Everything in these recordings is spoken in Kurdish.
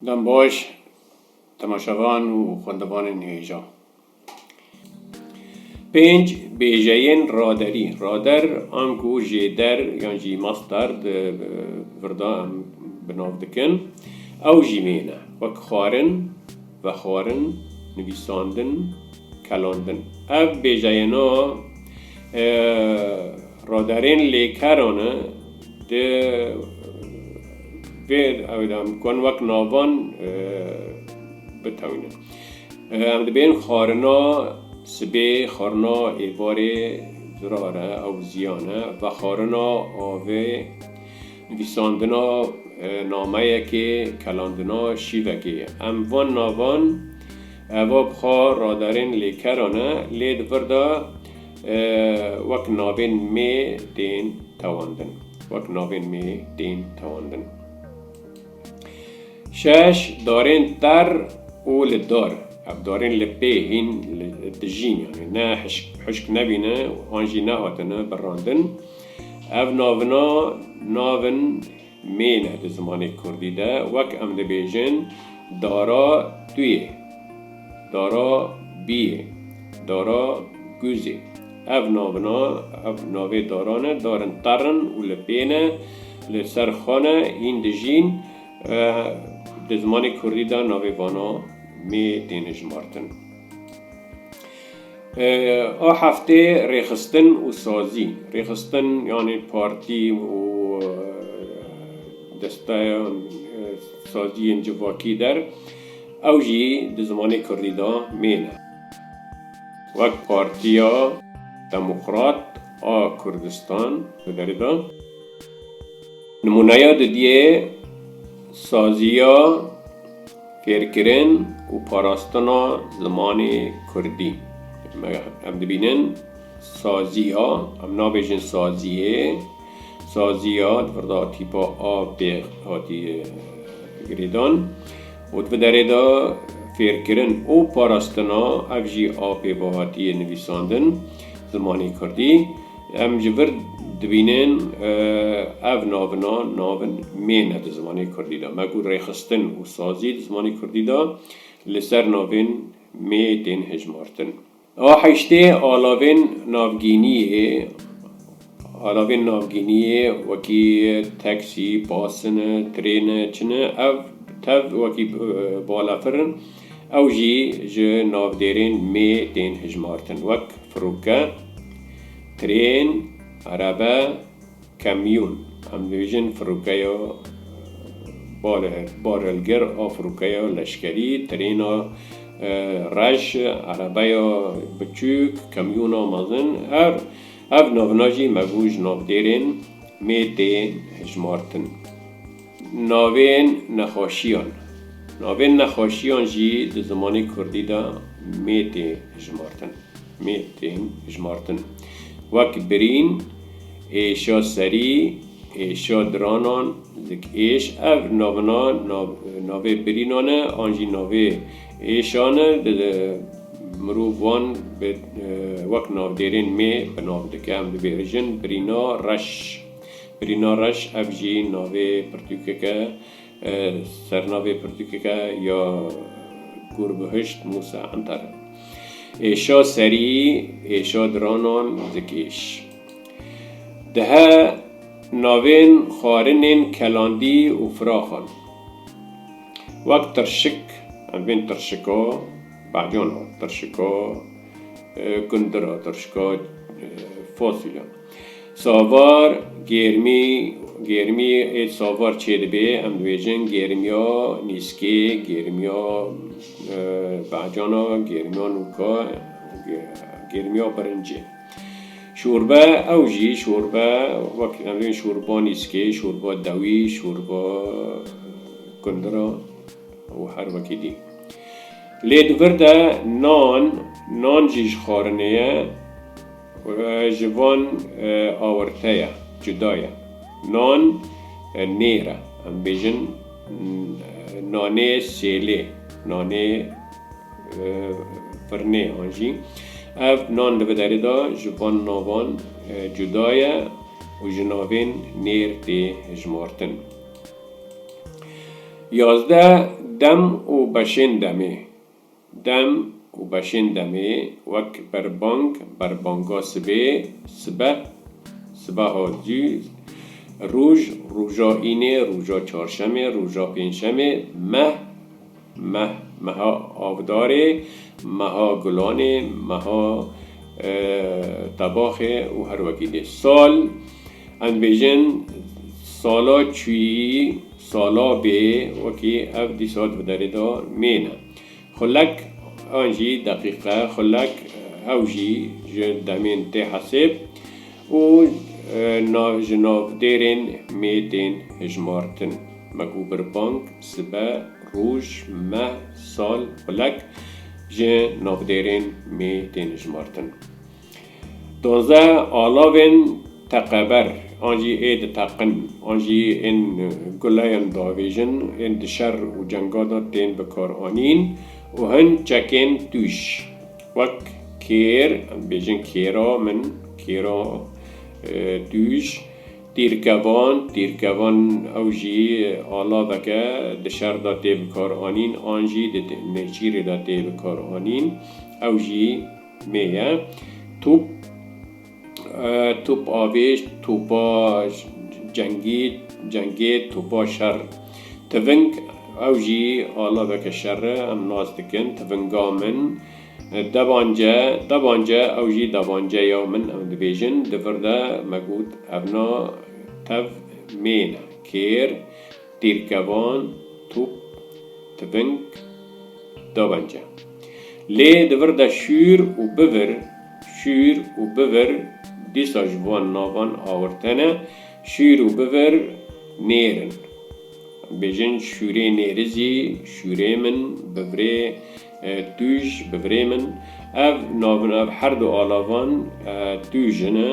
Dem baş temaşevan û xwendevanên hêjan. Pênc bêjeyên raderî, rader, anku jêder yan jî master di virda em bi nav dikin, ew jî wê ne, wek xwarin, vexwarin, nivîsandin, kelandin. Ev bêjeyêna raderên lêkeran e Di vê ew de em kon wek navan bitewînin. Em dibêjin xwarina sibê, xwarina êvarê zirar e, ew ziyan e, vexwarina avê, nivîsandina nameyekê, kelandina şîvekê ye. Em van navan eva bi xwe radarên lêkeran e, lê di vir de Wek navên mê tên tewandin. Wek navên mê tên tewandin. Şeş, darên ter û li dar. Ev darên li pê hîn dijîn yanî ne hişk nebîne an jî nehatine birandin. Ev navina navin Mêne di zimanê kurdî de wek em dibêjin dara tu yê, dara bî yê, dara gûz ê. Ev navina, ev navê daran e, darin qer in û li pê ne, li ser xwe ne, hîn dijîn. Di zimanê kurdî de navê vana mê tên hijmartin. A heftê rêxistin û sazî. Rêxistin yanî partî û desteya saziyên civakî der ew jî di zimanê kurdî de mêr e. Wek Partiya Demokrat a Kurdistan li derê de nimûneya didiyê saziya. Fêrkirin û parastina zimanê kurdî. Me em dibînin saziya, em nabêjin saziyê, saziya di pirda tîpa a bê hatiye girêdan û di vê derê de fêrkirin û parastina ev jî a pê ve hatiye nivîsandin zimanê kurdî. Em ji vir dibînin ev navina navin mêne di zimanê kurdî de. Me ku rêxistin û sazî di zimanê kurdî de li ser navên mê tên hejmartin. A heştê alavên navgîniyê, alavên navgîniyê wekî teksî, bas in, trên, çin in, ev tev wekî balafir in. Ew jî ji navdêrên mê tên hijmartin wek, firoke, trên, erebe, kamyûn. Em dibêjin firokeya barelger a firokeya leşkerî, trêna reş, erebeya biçûk, kamyûna mezin her ev navina jî me bû ji navdêrên mê tê hijmartin. Navên nexweşiyan Navên nexweşiyan jî di zimanê kurdî de mê tê hijmartin, mê tên hijmartin, wek birîn, êşa serî, êşa diranan, zik êş, ev navina navê birînan e an jî navê êşan e, mirov wan wek navdêrên mê bi nav dike, em dibêjin, birîna reş. Brîna Reş ev jî navê pirtûkek e. Sernavê pirtûkek e ya Gûrbihişt Mûsa Enter. Êşa serî, êşa diranan zikîş. Dihe navên xwarinên Kelandî û Firaxan. Wek Tirşik, em bên Tirşika Bahcan a, Tirşika Gundir a, Tirşika Fasulye. Savar, gêrmî, gêrmî ê savar çêdibê, em dibêjin gêrmiya nîskê, gêrmiya behcana, gêrmiya nûka, gêrmiya birincê. Şorbe, ew jî şorbe wek em dibêjin şorba nîskê, şorba dewî, şorba kundira û her wekî dî. Lê di vir de nan, nan jî ji xwarinê ye. Ji van awirte ye, cuda ye. Nan nêr e. Em bêjin nanê sêlê, nanê firinê an jî. Ev nan li vi derê de ji van navan cuda ye û ji navên nêr tê hijmartin. Yazdeh dem û beşên demê. Dem û beşên demê wek berbang, berbango sibê, sibe, sibaho dû, rûj, rûja înê, rûja çarşemê, rûja pênçemê, meh, meh, meha avdarê, meha gulanê, meha tebaxê û her wekî dî. Sal, em dibêjin sala çûyî. Sala bê wekî ev dîsa di derê de mêne. Xulek an jî deqîqe, xulek ew jî ji demên tê hesêb û ji navdêrên mê tên hijmartin. Me ku birpang, sibe, roj, meh, sal, xulek ji navdêrên mê tên hijmartin. Duwazdeh alavên teqeber an jî ê diteqin an jî ên guleyan diavêjin ên di şer û cenga de tên bikaranîn û hin çekên tûj wek kêr, em dibêjin kêra min, kêra tûj, tîrkevan, tîrkevan ew jî alaveke di şer de tê bikaranîn an jî di nêçîrê de tê bikaranîn ew jî. Me ye. Top, top avêj, topa cengî, cengê, topa şer. Tiving, ew jî alaveke şer e, em nas dikin, tivinga min. Devance, devance, ew jî devanceya min, em dibêjin. Di vir de me got, evna tev mêne, kêr. Pêvkevan, top, tivink, dawence. Lê di vir de şûr û bivir, şûr û bivir dîsa ji van navan awirte ne, şûr û bivir nêr in. Bêjin şûrê nêri zî, şûrê min, bivirê tûj, bivirê min. Ev navin ev herdu alavan tûj in e.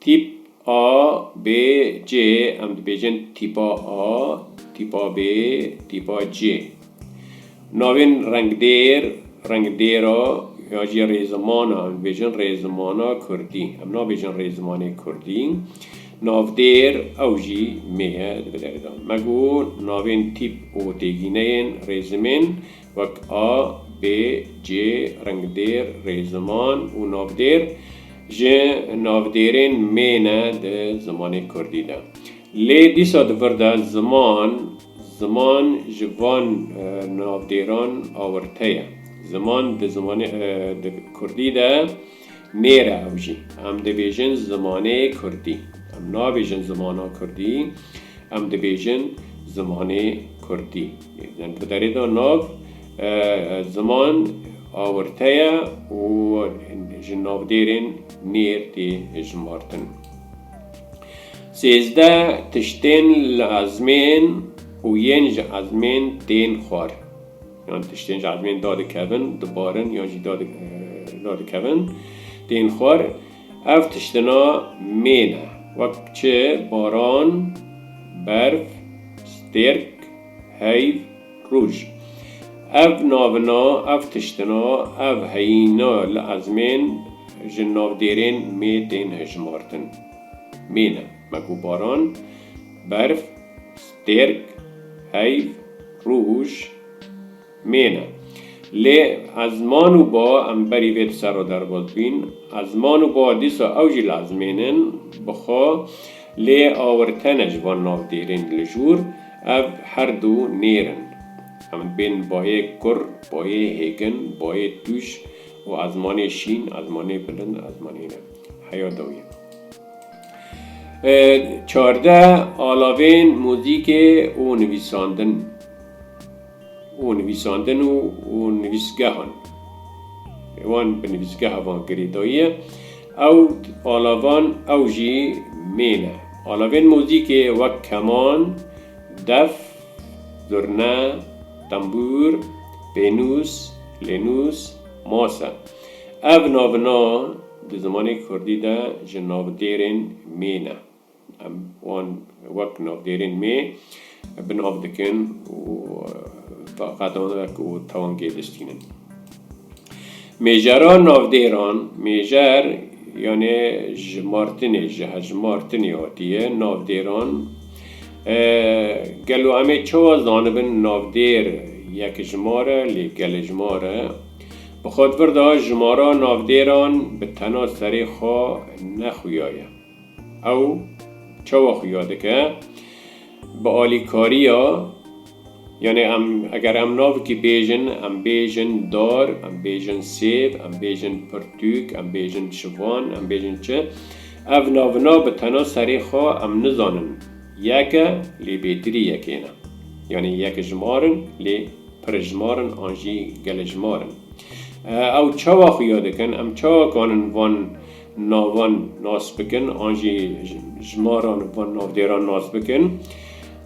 Tîp A, B, C, em dibêjin tîpa A, tîpa B, tîpa C. Navên rengdêr, rengdêra ya jî rêzimana, em dibêjin rêzimana kurdî. Em nabêjin rêzimanê kurdî. Navdêr, ew jî mê ye di bi derê de. Me got navên tîp û têgîneyên rêzimên. wek a, b, c, ringdêr, rêziman û navdêr ji navdêrên mê ne di zimanê kurdî de. Lê dîsa di vir de ziman, ziman ji van navdêran awirte ye. Ziman di zimanê kurdî de. Nêre ew jî. Em dibêjin zimanê kurdî. Em nabêjin zimana kurdî, em dibêjin zimanê kurdî. Yê bi derê de nav ziman awirte ye û ji navdêrên nêr tê hijmartin. Sêzdeh tiştên li ezmên û yên ji ezmên tên xwar. Yan tiştên ji ezmên da dikevin, dibarin yan jî da dikevin tên xwar. Ev tiştina mê ne wek çi, baran, berf, stêrk, heyv, rûj. Ev navina, ev tiştina, ev heyîna li ezmên ji navdêrên mê tên hejmartin. Mê ne me ku baran, berf, Têrk, heyv, rûj, mêne. Lê ez man û ba em berî vê di ser û derbas bîn. Ez man û ba dîsa ew jî li ez mênin, bi xwe lê awirtene ji van navdêrên li jûr. Ev her du nêr in. Em dibên bayê kur, bayê hêgin, bayê tûj û ezmanê şîn, ezmanê bilind, ezmanê ne. Heya dawiyê. Çardeh alavên muzîkê û nivîsandin û nivîsandin û û nivîsgehan wan bi nivîsgeha van girêdayî ye. Ew alavan ew jî mêr e. Alavên muzîkê wek keman, def, zurne, tembûr, pênûs, lênûs, mase. Ev navina Di zimanê kurdî de ji navdêrên mê ne. Em wan wek navdêrên mê bi nav dikin û taqedan ve ku tewangê diştînin. Mêjera navdêran, mêjer yanê ji martinê, ji hejmartinê hatiye, navdêran. Gelo em ê çawa zanibin navdêr yekjimar e lê gelêjmar e? Bi xwe vir da jimara navdêran bi tena serê xwe ne xuyaye. Ew çawa xuya dike? Bi alîkariya, yanê em eger em navikî bêjin, em bêjin dar, em bêjin sêv, em bêjin pirtûk, em bêjin şivan, em bêjin çi? Ev navina bi tena serê xwe em nizanin. Yeke lê bêtirî yekê ne. Yanê yek jimar in lê. pirêjimar in an jî gelêjimar in. Ew çawa xuya dikin, em çawa kanin van navan nas bikin an jî jimaran van navdêran nas bikin,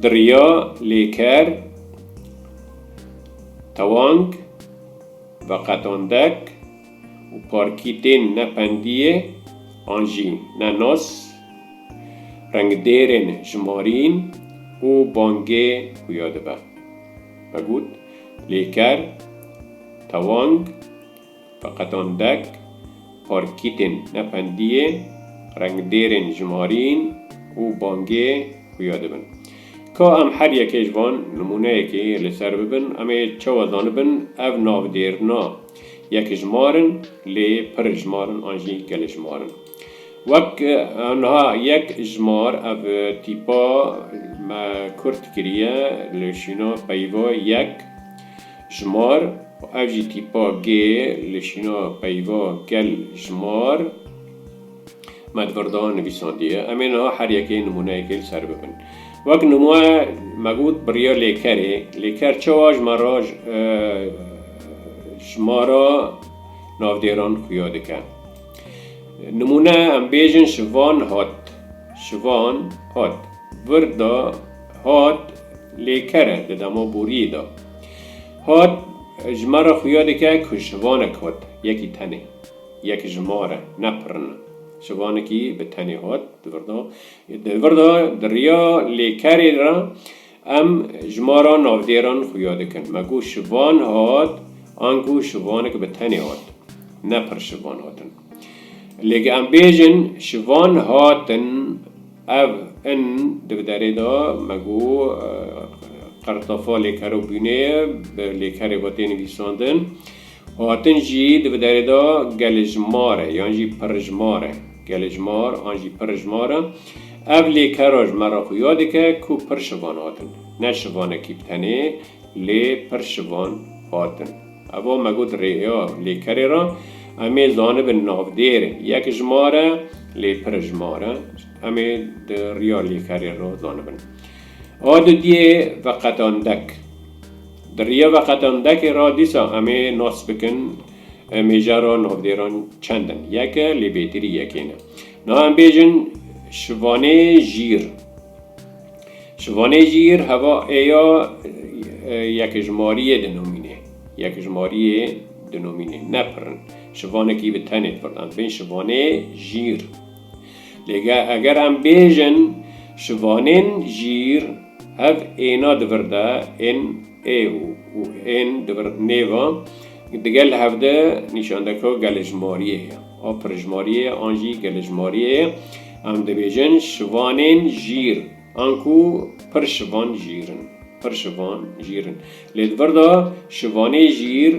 di riya lêker, tewang, veqetandek û parkî tên ne pendiyê an jî ne nas, rengdêrên jimarîn û bangê xuya dibe. ve got, lê ker, tewang, feqetandek, parkîtên nefendiyê, rengdêrên jimarîn û bangê xuya dibin. Ka em her yekê ji van nimûneyekê li ser bibin, em ê çawa zanibin ev navdêrina yekjimar in, lê pirjimar in an jî geljimarin. Wek anha yek ji mar ev tîpa me kurt kiriye li şîna peyva yek ji mar û ev jî tîpa gê li şîna peyva gel ji mar me di vir de nivîsandiye. Em ê niha her yekê nimûneyekê li ser bibin. Wek nimûne me got biriya lêkerê. Lêker çawa ji me re ji mara navdêran xuya dike? Nimûne em bêjin şivan hat, şivan hat, vir de hat lê ker e di dema boriyê de. Hat ji me re xuya dike ku şivanek hat, yekî tenê, yek ji ma re, ne pirin e. Şivanekî bi tenê hat, di vir de, di vir de di riya lê kerê re, Em ji ma ra navdêran xuya dikin. Me ku şivan hat an ku şivanek bi tenê hat. Ne pir şivan hatin. Lê ge em bêjin şivan hatin ev in di bi derê de me ku qirtefa lêker û bûnê bi lêkerê ve tê nivîsandin. Hatin jî di bi derê de Gelijmar e yan jî Pirijmar e. Gelijmar an jî Pirijmar e. Ev lêkera ji me re xuya dike ku pir şivan hatin. Ne şivanekî bi tenê lê pir şivan hatin. Eva me got rêya lêkerê re em ê zanibin navdêr yekjimar e lê pirijmar e. Em ê di riya lêkerê re zanibin. A didiyê veqetandek. Di riya veqetandekê ra dîsa em ê nas bikin mêjara navnêran çend in. Yek e, lê bêtirî yekê ne. Niha em bêjin Şivanê Jîr. Şivanê Jîr heva ê ya yekijmariyê dinomînê. Yekijmariyê dinomînê. Ne pirr in. Şivanekî bi tenê pirr em bên Şivanê Jîr. Lê eger em bêjin şivanên jîr hev êna di vir de ên ê û ên di vir nêva digel hev de nîşandeko gelejmariyê ye a pirjmariyê ye an jî gelejmariyê ye. Em dibêjin şivanên jîr an ku pir şivan jîr in pir şivan jîr in. Lê di vir de şivanê jîr.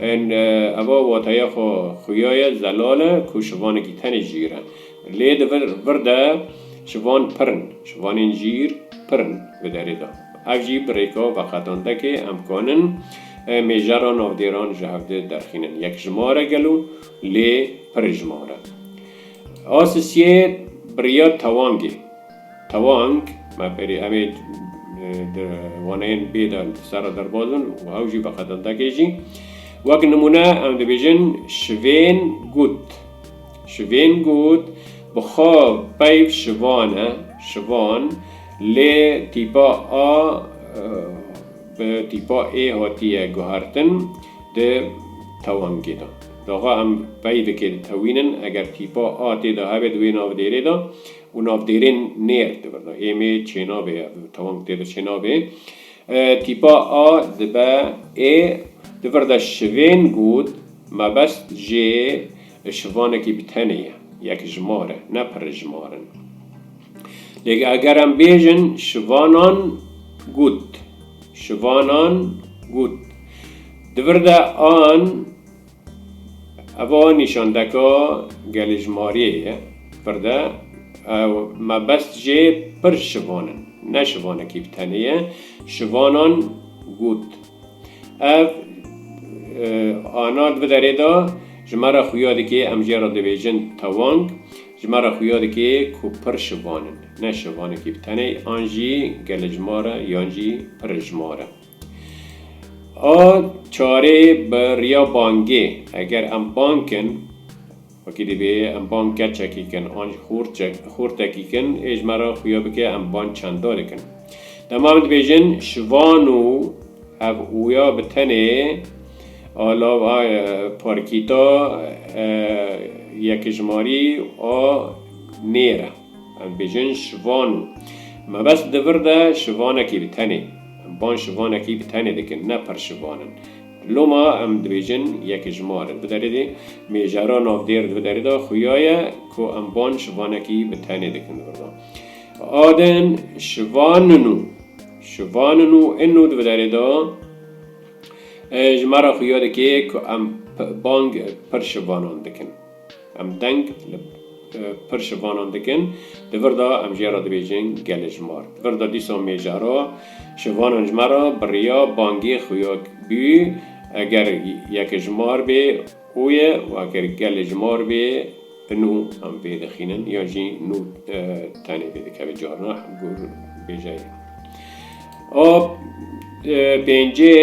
Ên eva wateya xwe xuyaye zelal e ku şivanekî tenê jîr e. Lê di vir de şivan pir in. Şivanên jîr pir in bi derê de. Ev jî bi rêka veqetandekê em kanin mêjera navdêran ji hev di derxînin. Yekjimar e gelo lê pirjimar e. A Sisiyê biriya tewangê. Tewang, me pêrî em ê di waneyên bê de di ser re derbas bin û ew jî bi qedendekê jî. Wek nimûne em dibêjin şivên gut. Şivên gut bi xwe peyv şivan e, şivan, lê tîpa a bi tîpa ê hatiye guhertin di tewangê de. Daxa em pey dike ditewînin, eger tîpa a tê de hebe di wê navdêrê de, û navdêrên nêr dibin. Ê mê çênavê ev tewang tê de çênavê. Tîpa a dibe ê di vir de şivên got mebest jê şivanekî bi tenê ye, yekjimar e, ne pirijmar in. Lê eger em bêjin şivanan got, şivanan got, di vir de an, Eva nîşandeka gelêjmariyê ye pir de ew mebest jê pir şivan in, ne şivanekî bi tenê ye. Şivanan got, Ev ana di vederê de ji me re xuya dike, em jê re dibêjin tewang, ji me re xuya dike ku pir şivan in, ne şivanekî bi tenê an jî gelêjmar e yan jî pirijmar e. A çarê bi riya bangê eger em bang kin wekî divê em bang keçekî kin an jî xortekî kin ê ji me re xuya bike em bang çanda dikin. Dema em dibêjin şivan û hev ûya bi tenê a lava parkîta yekijmarî a nêr e. Em bêjin şivan û. Mebest di vir de şivanekî bi tenê. Em van şivanekî bi tenê dikin, ne pir şivan in. Loma em dibêjin yekijmar in. Di derê de mêjara navdêr di derê de xuya ye ku em van şivanekî bi tenê dikin. Di vir de a din şivan in û. Şivan in û in û di derê de ji me re xuya dike ku em bang pir şivanan dikin. Em deng li pir şivanan dikin. Di vir de em ji ya re dibêjin Gelêjmar. Di vir de dîsa mêjara şivanan ji me re bi riya bangê xuyak bû. Eger yekijmar bê û ye û eger gelêjmar bê nû em vê dixînin yan jî nû tenê vê dikeve carina gor bêje ye. A pêncê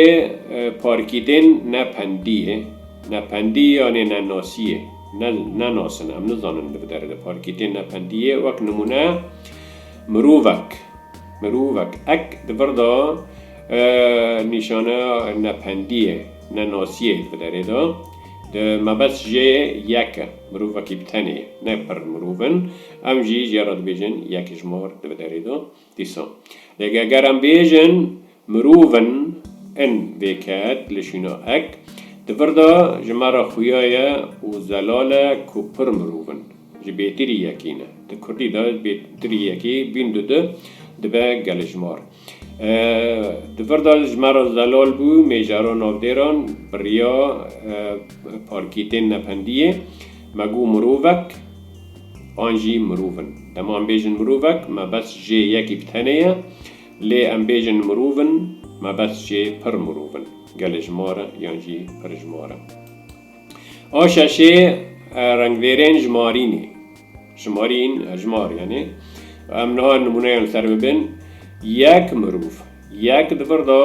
parkîdên ne pendî ye, ne pendî yanê ne nasî ye. Ne nenasin, em nizanin li bi derê de parkîdên ne pendî ye. Wek nimûne mirovek, mirovek ek di vir de nîşaneya ne pendî ye, ne nasî ye li bi derê de. Di mebest jê yek e, mirovekî bi tenê ye. Ne pir mirov in, em jî jê re dibêjin yek ji mar li bi derê de. Dîsa lê eger em bêjin mirov in, in vê ket li şîna ek, di vir de ji me re xuya ye û zelal e ku pir mirov in, ji bêtirî yekî ne. Di kurdî de bêtirî yekî bîn du di, dibe geljmar. Di vir de ji me re zelal bû mêjara navdêran, biriya parkîtên nependiyê. Me got mirovek an jî mirov in. Dema em bêjin mirovek me bes jê yekî bi tenê ye, lê em bêjin mirov in me bes jê pir mirov in, gelê ji ma re yan jî pir ji ma re. A şeşê rengvêrên jimarînê, jimarîn, hejmar yanê, em niha nimûneyan li ser bibin, yek mirov, yek di vir de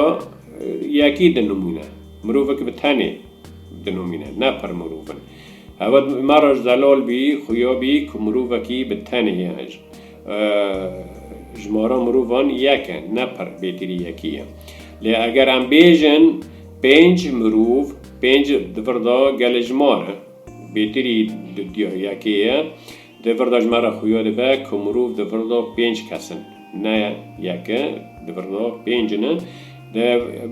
yekî di nimûne, mirovek bi tenê. Dinomîne, ne pir mirov in. Hewa ma re zelal bî, xuya bî ku mirovekî bi tenê ye. Jmara mirovan yek e, ne pir bêtirî yekî ye. Lê eger em bêjin pênc mirov, pênc di vir de gelê ji ma re bêtirî dûya yekê ye. Di vir de ji me re xuya dibe ku mirov di vir de pênc kes in. Ne yek e, di vir de pênc in. Di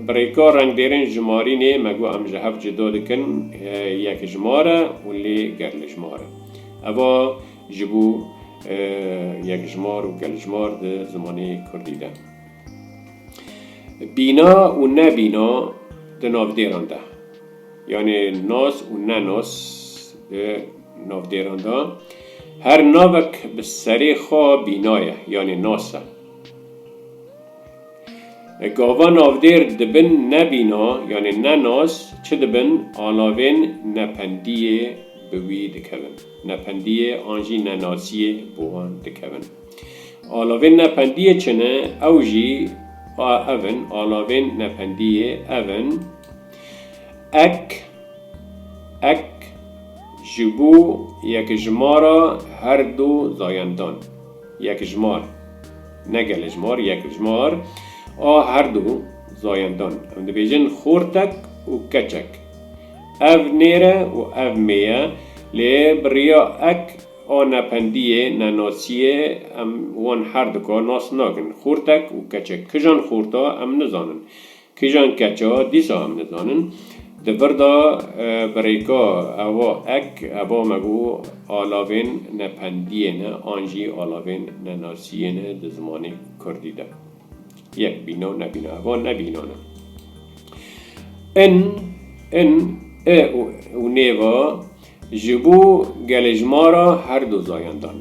birêka rengdêrên jimarînê me got em ji hev cuda dikin yekjimar e û lê geljimar e. Eva ji bo yekjimar û geljimar di zimanê kurdî de. Bîna û nebîna di navdêran de. Yanê nas û nenas di Navdêran de her navek bi serê xwe bîna ye yanê nas e. Gava navdêr dibin ne bîna yanê ne nas çi dibin alavên nependiyê bi wî dikevin. Nependiyê an jî nenasiyê bi wan dikevin. Alavên nependiyê çi ne ew jî ev in, alavên nependiyê ev in, ek, ek ji bo yekijmara her du zayendan, yekijmar, ne gelejmar, yekijmar, a her du zayendan, em dibêjin xortek û keçek. Ev nêr e û ev mê ye, lê bi riya ek a nependiyê, nenasiyê em wan her du ka nas nakin. Xortek û keçek. Kijan xorta em nizanin. Kîjan keça dîsa em nizanin. Di vir de birêka ewa ek eva me got alavên ne pendiyê ne an jî alavên ne nasiyê ne di zimanê kurdî de. Yek bîna û nebîna. Eva ne bînan e. In, in, i û nêva. Ji bo gelê ji ma re her du zayendan,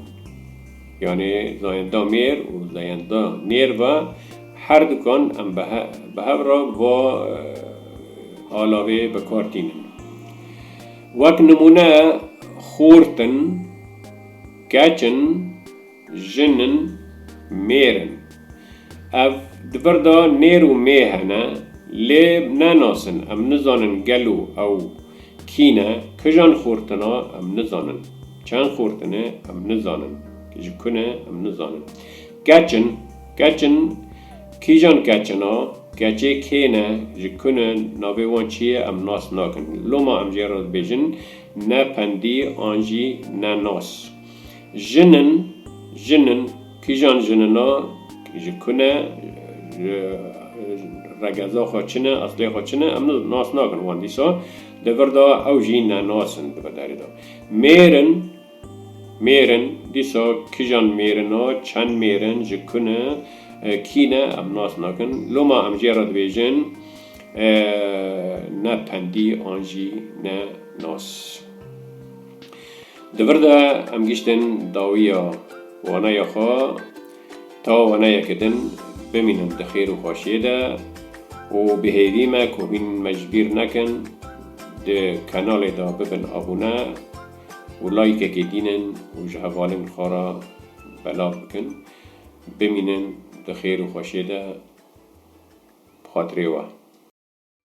yanê zayenda mêr û zayenda nêr ve her dukan em bi hev re va alavê bi kar tînin. Wek nimûne, xort in, keç in, Jin in, mêr in. Ev di vir de nêr û mê hene, lê ne nas in, em nizanin gelo ew kî ne, kijan xortin e em nizanin, çend xortin e em nizanin, ji ku ne em nizanin. Keç in, keç in, kîjan keçin e, keçê kê ne, ji ku ne, navê wan çi ye em nas nakin. Loma em jê re dibêjin ne pendî an jî ne nas. Jinin, jinin, kîjan jinina, ji ku ne, regeza xwe çi ne, eslê xwe çi ne, em nas nakin wan. Dîsa di vir de ew jî nenas in di vir derê de. Mêrin, mêrin, dîsa kîjan mêrin e, çend mêrin, ji ku ne, kî ne, em nas nakin. Loma em jê re dibêjin ne pendî an jî ne nas. Di vir de em giştin dawiya waneya xwe ta waneyeke din bimînin di xêr û xweşiyê de û bi hêvî me ku hûn me ji bîr nekin di kanalê de bibin abûne û layîkekê dînin û ji hevalên xwe re belav bikin. Bimînin di xêr û xweşiyê de bi xatirê we.